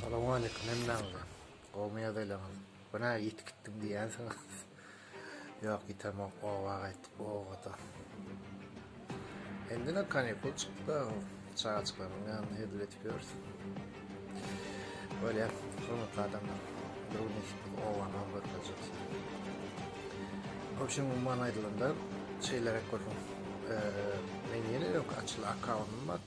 Salowmaleýkim hemmäňize. Gowmy ýagdaýlaryňyz? Bu nä ýiti gitdim diýýänsiňiz? Ýok, ýitemok, oba gaýtdyk, obada. Endine kanikul çykdy, çagajyklaryň ýanynda hezil edip ýörüs. Bolýar, hormatly adamlar. Bir gün eşit biz obany alyp görkezjek size. Obşem umuman aýdylanda, şeýleräk bolsun. Men ýene ýok açyl akkaunum bar.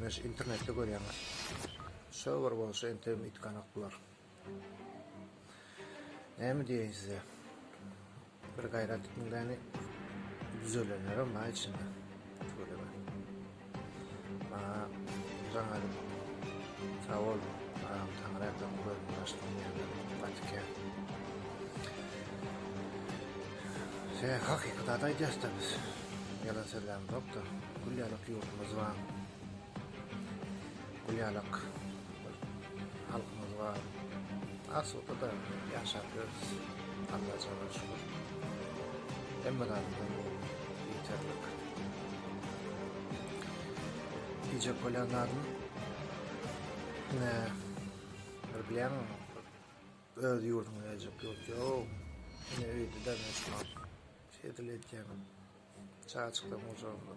Men şu internetde görýän. Şo bir bolsa entegem itganak bular. Näme diýeýin size? Bir gaýrat etmek bäni düzelenlerim bar içinde. Göreme. Aa, jaňa sag bol. Aa, taňra ýatan gözüm başdan ýerler. Batyke. Sen hakykat aýdýarsda biz. Ýalan sözlem zokda. Gül ýalak ýurdumyz bar. Gül ýalak halkymyz bar. Asuda da ýaşap ýörüs. Alla jalla şükür. Hemme zatdan ýeterlik. Diýjek bolýan zadym ne bir bilýän öz ýurduňa geljek ýurt ýok. Ne öýde de ne şu Seýdil edýäňem çaçklaň ujurly.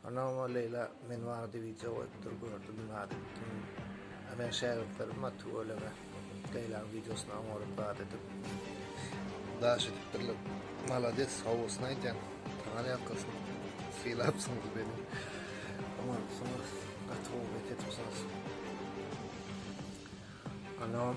Anama Leýla men barada wideo goýupdyr gördüm zat etdim. A men şägirtlerim bar tüweleme. Leýlaň wideosyny oňaryp zat edip daş edipdirler. Malades howusyny aýdýaň. Taňar ýalkasyn. Sylapsyňyz meni. Oňarypsyňyz. Gaty gowy bet edipsiňiz. Anam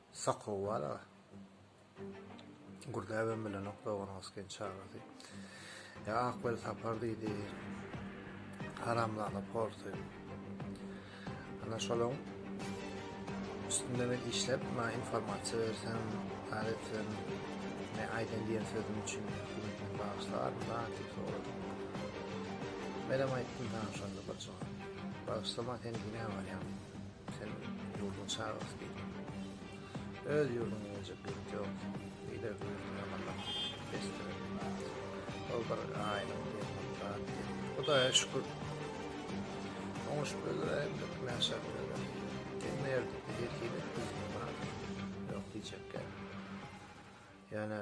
Sakgow bala. Gürläbem bilenok doganyňyz gen çagasy. Ya Akbel Sapar diýdi. Haramzada porsy. Ana şolaň üstünde men işlep, ma informasiýa bersen, aýtsan, ne aýdan diýen sözüm üçin hükümetiň bagşlar, ma diýip soradym. Menem aýtdym sana şonda bir jogap. Bagşlama sen dine barýaň. Sen ýurduň çagasy diýip, öz ýurduňa geljek ýurt ýok. Beýle ýurduň ýamanlap besdir. Ol bir aýlyň ýerinde Hudaýa şükür. Oňa şükürler hem dökmän şertler. Sen nerede? Ýekile düzgün bar. Ýok diýjekkä. Ýöne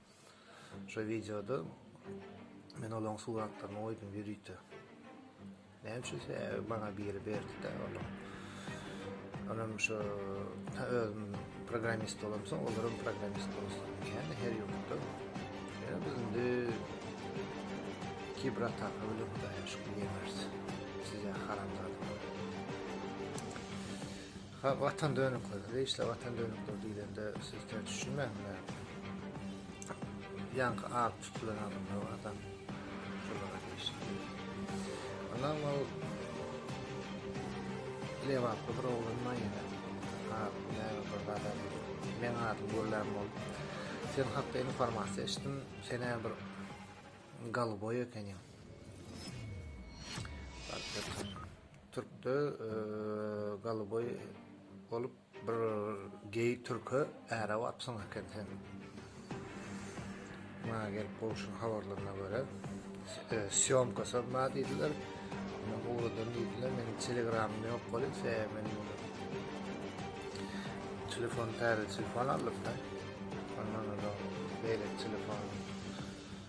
Şo wideoda men olaň suratlaryny goýdum ýörite. Näme üçin sebäbi maňa biri berdi-de ony. Onam şo ta özüm programmist bolamsoň olaram programmist bolsun diýýän her ýurtda. Ýöne biz indi kiber ataka bilen hudaýa şükür ýeňeris. Size haramzadalar. Ha watan dönükleri, zeýşle watan dönükleri diýlende siz ter düşünmäň bilen. Ýaňky alyp tutulan adamlar barda şolara zeýşle. Ondan ol Lewaply bir oglan bar ýene. Ha, näme bir zada men adymy görlän bolup. Sen hakda informasiýa eşitdim, sen hem bir galyboý ekeniň. Türkde galyboý bolup bir geý türke äre bapsyň eken sen. Maňa gelip gowşuň habarlaryna görä syomka syrma diýdiler. Men gowradan diýdiler. Meniň telegramym ýok bolup se men telefon täze telefon aldym da. Ondan da beýle telefon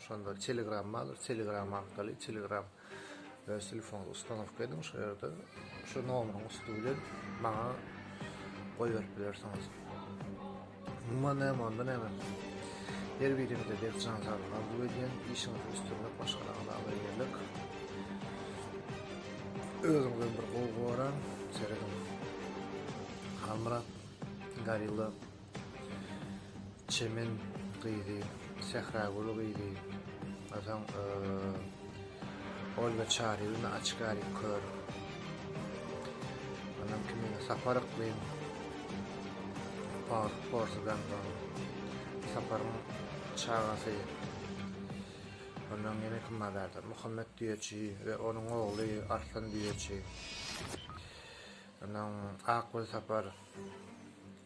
Şonda telegram bar, telegram arkaly telegram öz telefonuňyza ustanowka ediň, şol ýerde şu nomeriň üsti bilen maňa goýberip bilersiňiz. Umuman näme onda näme. Her birinize berk jan saglyk arzuw edýän, işiňizde üstünlik, maşgalaňyza abraý-eýerlik. Özüňizden bir gowy goraň, serediň. Halmyrat, Gorilla. Çemen gyzy, Sähragül gyzy, onsoň Olga Çaryýewna Açgary kör. Onuň kimi Sapar Yklym, Pars, Porsudan bar. Saparyň çagasy. Ondan ýene kim bar ýa-da Muhammet Düýeçi we onuň ogly Arslan Düýeçi. Onuň Akgül Sapar.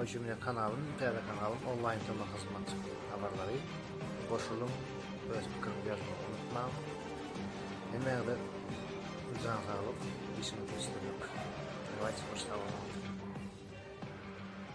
Oýşemine kanalyň täze kanalyň onlaýn tomaý hyzmaty habarlary goşulyň öz pikiriňizi ýazmagy unutmaň hemäňize jan saglyk işiňizde üstünlik Dawaýçy hoş sag boluň.